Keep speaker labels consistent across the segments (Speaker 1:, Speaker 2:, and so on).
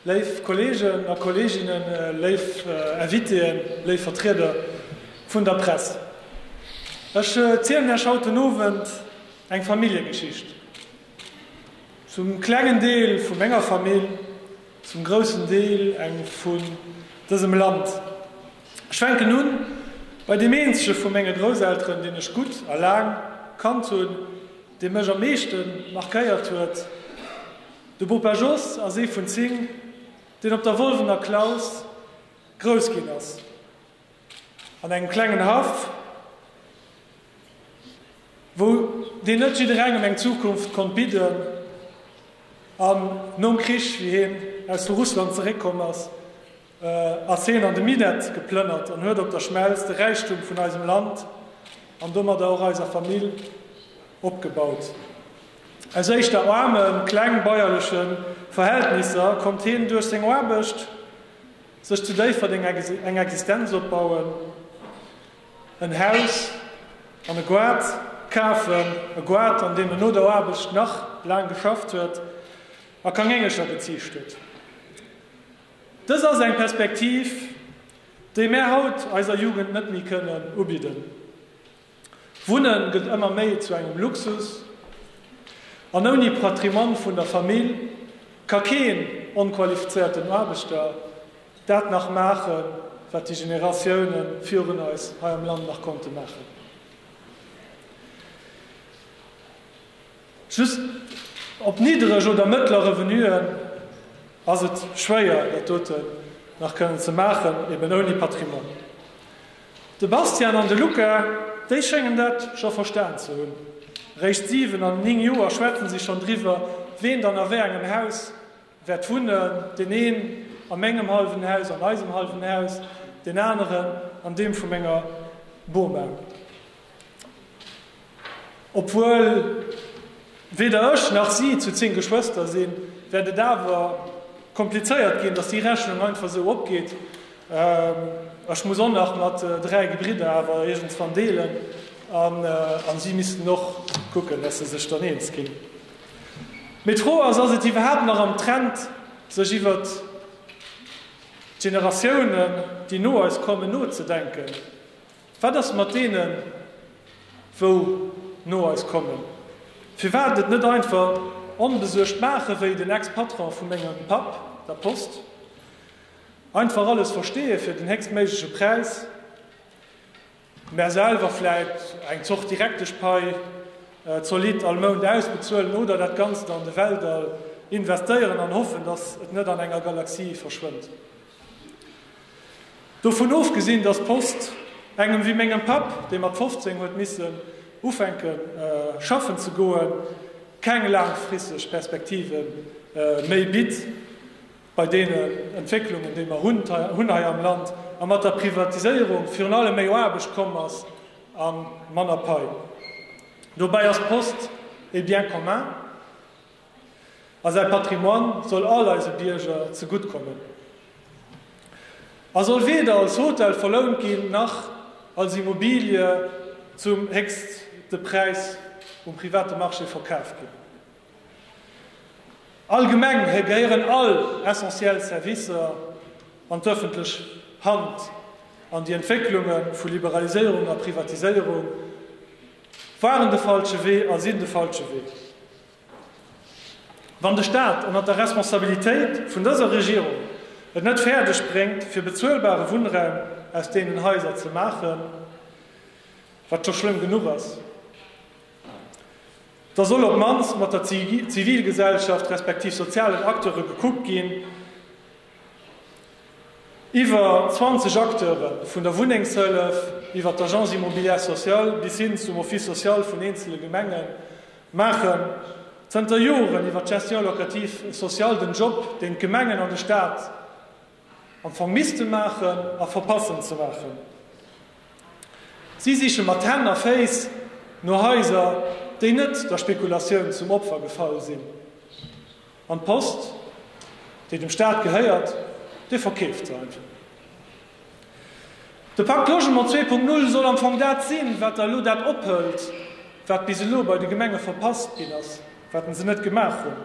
Speaker 1: Léif Kolleegen a Kolleeginnen, léif Invitéen, léif Vertrieder vun der Press, ech zielen Iech haut den Owend eng Familljegeschicht. Zum klengen Deel vu menger Famill, zum groussen Deel eng vun dësem Land. Ech fänken un bei deem eenzege vu menge Grousselteren, deen ech gutt a laang kannt hunn, dee mech am meeschte markéiert huet, De Bopa Jos ass ee vun 10, deen op der Wolwener Klaus grouss ginn ass. An engem klengen Haff, wou deen net jidderengem eng Zukunft konnt bidden, an nom Krich, wéi hien aus vu Russland zeréckkomm ass, ass heen an de Minett geplënnert an huet op der Schmelz de Räichtum vun eisem Land an domadder och eiser Famill opgebaut. Aus éischter aarmen, kleng bäuerlechen Verhältnisser konnt heen duerch seng Aarbecht sech zu Déifferdeng eng Existenz opbauen, en Haus an e Goart kafen, e Goart an deem en no der Aarbecht nach laang geschafft huet a Kangéngelcher geziicht huet. Dëst ass eng Perspektiv, déi mär haut eiser Jugend net méi kënnen ubidden. Wunne gëtt ëmmer méi zu engem Luxus, an ouni Patrimoine vun der Famill ka keen onqualifizéierten Aarbechter dat nach maachen, wat déi Generatioune virun eis hei am Land nach konnte maachen. Just op niddereg oder mëttlere Revenuen ass et schwéier, dat doten nach kënnen ze maachen, eben ouni Patrimoine. De Bastian an de Luca, déi schéngen dat scho verstan ze hunn. Eréischt 7 an 9 Joer schwätze si schonn driwwer, ween dann a wéi engem Haus wäert wunnen, deen een a mengem hallwen Haus, an eisem hallwen Haus, deen aneren an deem vu menger Boma. Obwuel weder ech nach si zu 10 Geschwëster sinn, wäert et awer komplizéiert ginn, dass déi Rechnung einfach esou opgeet. Ech muss och nach mat 3 Gebridder awer iergendswann deelen an si missten och kucken, dass se sech dann eens ginn. Mee d'Fro ass, Ass et iwwerhaapt nach am Trend, sech iwwer d'Generatiounen, déi no eis kommen, nozedenken? Wat ass mat deenen, wou no eis kommen? Firwat et net einfach onbesuergt maachen, wéi den Ex-Patron vu mengem Papp, der Post? Einfach alles versteeë fir den héchstméigleche Präis, mä selwer vläit eng Zort direktesch Pai zolidd all Mount ausbezuelen oder dat Ganzt an de Weltall investéieren an hoffen, dass et net an enger Galaxie verschwënnt? Dovun ofgesinn, dass d'Post engem wéi mengem Papp, dee mat 15 huet missen ufänke schaffen ze goen, keng laangfristeg Perspektive méi bitt bei deenen Entwécklungen, déi mer hunn hei am Land, a mat der Privatiséierung virun allem méi Aarbecht komm ass a manner Pai. Dobäi ass d'Post e Bien commun. a säi Patrimoine soll all eise Bierger zegutt kommen a soll weder als Hotel verlount ginn, nach als Immobilie zum héchste Präis um private Marché verkaf ginn. Allgemeng gehéieren all essentiell Servicer an d'öffentlech Hand an déi Entwécklunge vu Liberaliséierung a Privatiséierung waren de falsche Wee a sinn de falsche Wee. Wann de Staat ënnert der Responsabilitéit vun dëser Regierung et net fäerdeg bréngt fir bezuelbare Wunnraum aus deenen Haiser ze maachen, wat scho schlëmm genuch ass, da soll op d'mannst mat der Zivilgesellschaft respektiv sozialen Acteure gekuckt ginn. Iwwer 20 Acteure, vun der Wunnengshëllef iwwer d'Agence immobilière sociale bis hin zum Office social vun eenzele Gemengen, maachen zënter Joren iwwer d'Gestion locative sociale den Job, deen d'Gemengen an de Staat am Fong misste maachen a verpassen ze maachen. Si siche mat Hänn a Féiss no Haiser, déi net der Spekulatioun zum Opfer gefall sinn. An d'Post, déi dem Staat gehéiert, Dir verkeeft se einfach. De Pakt Logement 2.0 soll am Fong dat sinn, wat Der elo dat ophëlt, wat bis elo bei de Gemenge verpasst ginn ass, wat se net gemaach hunn.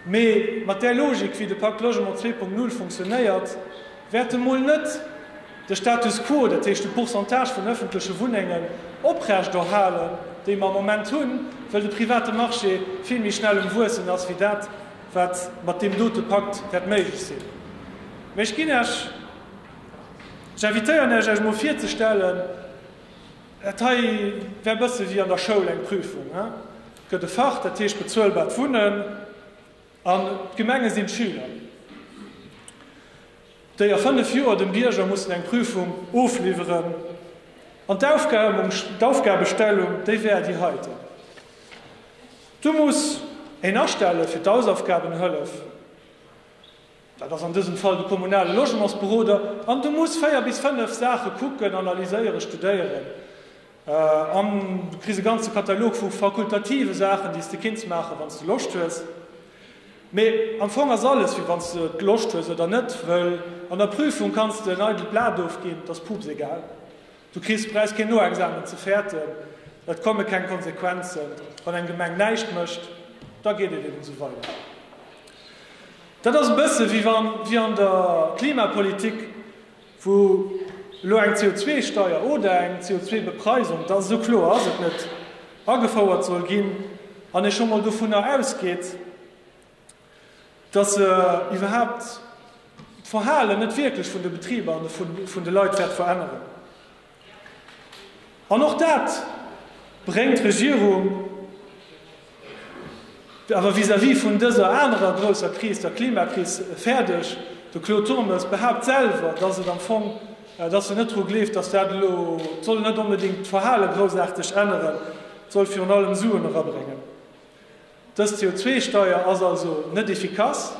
Speaker 1: Mee mat där Logik, wéi de Pakt Logement 2.0 funktionéiert, Wäerte mol net de Status quo, dat heescht de Pourcentage vun ëffentleche Wunnengen oprechterhalen, déi mer am Moment hunn, well de private Marché vill méi schnell um Wuessen ass wéi dat, wat mat deem dote Pakt wäert méiglech sinn. Mä ech ginn Iech, ech invitéieren Iech, Iech mol virzestellen, dat hei wär e bësse wéi an der Schoul eng Prüfung. Et gëtt e Fach, dat heescht bezuelbart Wunnen. An d'Gemenge sinn d'Schüler, déi a fënnef Joer dem Bierger mussen eng Prüfung ofliwweren. An d'Aufgabestellung, déi wär déi heiten, Du muss een astelle fir d'Hausaufgabenhëllef. Dat ass an dësem Fall de kommunale Logementsberoder an de muss véier bis fënnef Saache kucken, analyséieren, studéieren an du kriss e ganze Katalog vu fakultative Saachen, déi s de kinns maachen, wann s de Loscht hues. Mee am Fong ass alles wéi wann s de Loscht hues oder net, wëll an der Prüfung kanns de en eidelt Blat ofginn, et ass puupsegal. Du kriss Präis, keen Noexamen ze fäerten, et komme keng Konsequenzen, wann eng Gemeng näischt mécht, da geet et eben esou weider. Dat ass e bësse wéi an der Klimapolitik, wou elo eng CO2-Steier oder eng CO2-Bepreisung, da sou kloer ass et net, agefouert soll ginn, an ee scho mol dovunner ausgeet, datt se iwwerhaapt d'Verhalen net wierklech vun de Betriber an vun de Leit wäert veränneren. An och dat bréngt d'Regierung awer vis-à-vis vun dëser anerer grousser Kris, der Klimakris, fäerdeg. De Claude Turmes behaapt selwer, dass et am Fong, dass en net dru gleeft, dass dat elo, et soll net onbedéngt d'Verhale groussaarteg änneren, et soll virun allem Suen erabréngen. Dës CO2-Steuer ass also net efficace.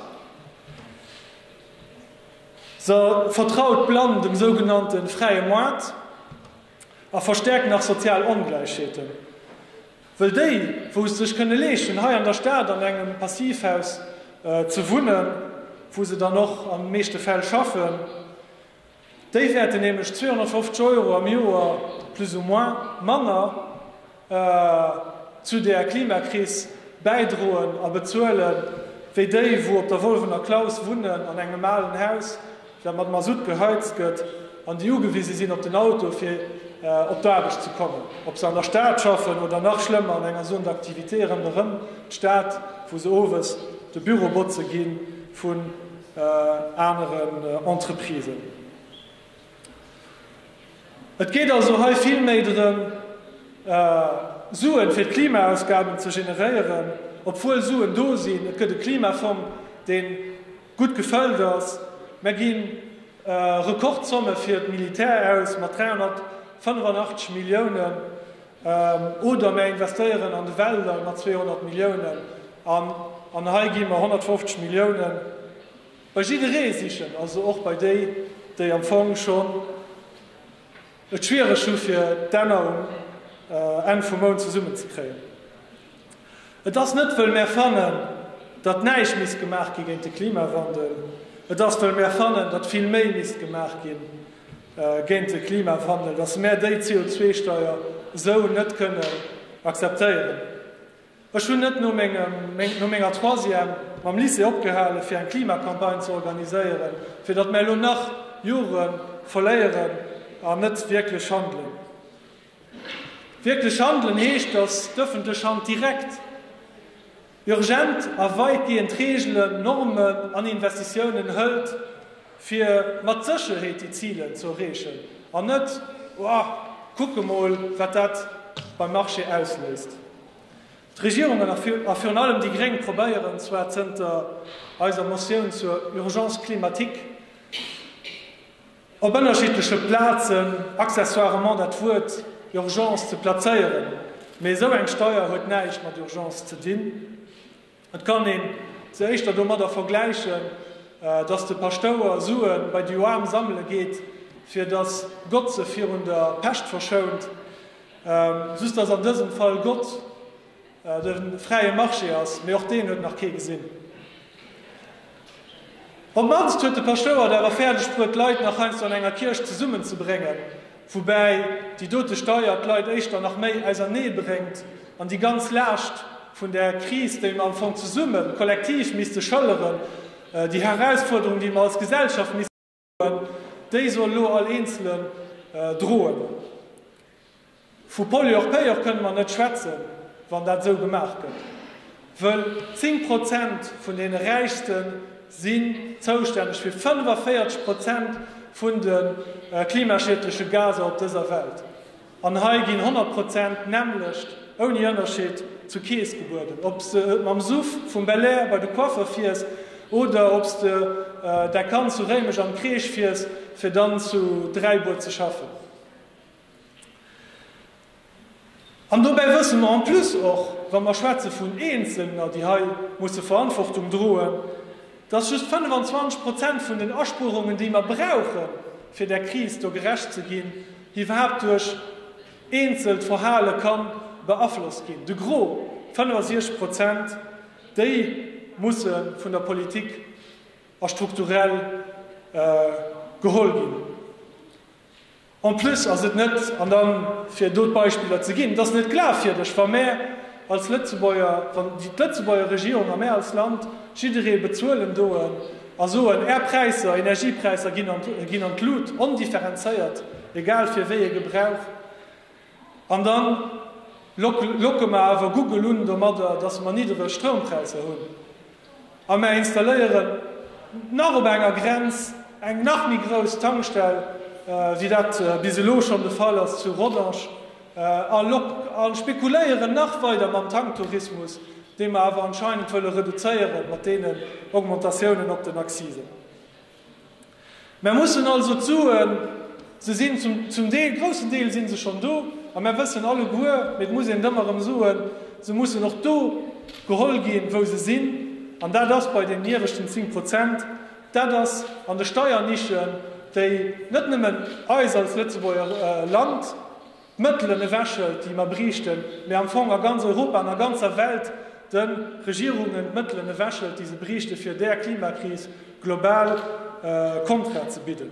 Speaker 1: Se vertraut blann dem sougenannte fräie Moart a verstäerkt nach sozial Ongläichheeten, wëll déi, wou et sech kënne leeschten, hei an der Stad an engem Passivhaus ze wunnen, wou se dann och an de meeschte Fäll schaffen, déi wäerten nämlech 250 Euro am Joer, plus ou moins, manner. zu der Klimakris bäidroen a bezuele wéi déi, wou op der Wolwener Klaus wunnen, an engem alen Haus, dat mat Masutt geheizt gëtt an déi ugewise sinn op den Auto, fir op d'Aarbecht ze kommen, ob se an der Stad schaffen oder, nach schlëmmer, an enger Zone d'activité ronderëm d'Stad, wou se owes de Büro botze gi vun aneren Entreprisen. Et geet also hei vill méi drëm, Suen fir d'Klimaausgaben ze generéieren, obwuel Suen do sinn. Et gëtt e Klimafong, dee gutt gefëllt ass. Mer gi Rekordzomme fir d'Militär aus, mat 385 Milliounen, oder mer investéieren an de Wälder mat 200 Milliounen. An hei gi mer 150 Milliounen. Bei jidderee sichen, also och bei déi, déi am Fong schonn et schwiereg hu fir d'Enner um Enn vum Mount zesummen ze kréien. Et ass net wëll mär fannen, datt näischt misst gemaach gi géint de Klimawandel, et ass wëll mär fannen, datt vill méi misst gemaach gi géint de Klimawandel, datt mär déi CO2-Steier esou net kënnen akzeptéieren. Ech hunn net no menger Troisième mam Lycée opgehale fir eng Klimacampagne ze organiséieren, fir datt mär elo nach Jore verléieren an net wierklech handelen. Wierklech handelen heescht, datt d'ëffentlech Hand direkt, urgent a wäitgehend Reegelen, Normen an Investitiounen hëlt, fir mat Sécherheet déi Ziler ze erreechen, an net, oh, kucke mol, wat dat beim Marché ausléist. D'Regierungen a virun allem déi Gréng probéieren zwar zënter eiser Motioun zur Urgence climatique op ënnerschiddleche Plazen accessoirement dat Wuert Urgence ze plazéieren, mee esou eng Steier huet näischt mat Urgence ze dinn. Et kann een se éischter domadder vergläichen, dass de Paschtouer Sue bei déi Aarm sammele geet, fir dass Gott se virun der Pescht verschount, just dass an dësem Fall Gott de fräie Marché ass, mee och deen huet nach kee gesinn. Op d'mannst huet de Paschtouer et awer fäerdeg bruet, d'Leit nach heiansdo an enger Kierch zesummen ze bréngen, woubäi déi dote Steier d'Leit éischter nach méi ausernee bréngt an déi ganz Laascht vun der Kris, déi mer am Fong zesummen, kollektiv misste schëlleren, déi Herausfuerderung, déi mer als Gesellschaft missten. Déi soll elo all eenzele droen. Vu Polyorpéier kënne mer net schwätzen, wann dat esou gemaach gëtt, wëll 10 Prozent vun deene Räichste sinn zoustänneg fir 45 Prozent vun de klimaschiedleche Gaser op dëser Welt. An hei ginn 100 Prozent nämmlecht ouni Ënnerscheed zur Kees gebueden, ob s de et mam Suff vum Belair bei de Coiffer fiers oder ob s de däi Kand zu Réimech an d'Crèche fiers fir dann zu Dräibuer ze schaffen. An dobäi wësse mer en plus och, wa mer schwätze vun Eenzelner, déi hei musse Verantwortung droen, dass just 25 Prozent vun den Aspuerungen, déi mer brauche fir där Kris do gerecht ze ginn, iwwerhaapt duerch eenzelt Verhale ka beaflosst ginn, de Gros, 65 Prozent, déi musse vun der Politik a strukturell geholl ginn. En plus ass et net, an da fir do d'Beispiller ze ginn, et ass net glafwierdeg, wa mär als Lëtzebuerger, wann d'Lëtzebuerger Regierung a mär als Land jidderee bezuelen doen, A soen, Är Präisser, Energiepräisser ginn an d'Lut, ondifferenzéiert, egal fir wéi ee Gebrauch. An da locke mer awer Google un domadder, datt mer niddereg Stroumpräisser hunn. A mer installéieren nach op enger Grenz eng nach méi grouss Tankstell, wéi dat bis elo schonn de Fall ass zu Rodange, A log a spekuléieren nach weider mam Tanktourismus, dee mer awer anscheinend wëlle reduzéieren mat deenen Augmentatiounen op den Accisen. Mer mussen also d'Suen, se sinn zum Deel, groussen Deel si se schonn do, a mer wëssen alleguer, mee et muss een et ëmmer erëm soen, se mussen och do geholl ginn, wou se sinn, an dat ass bei den ieweschten 10 Prozent, Dat ass an de Steiernichen, déi net nëmmen eis als Lëtzebuerger Land d'Mëttelen ewechhëlt, déi mer bräichten, mä am Fong a ganz Europa, an a ganzer Welt de Regierungen d'Mëttelen ewechhëlt, déi se bräichten, fir där Klimakris global Kontra ze bidden.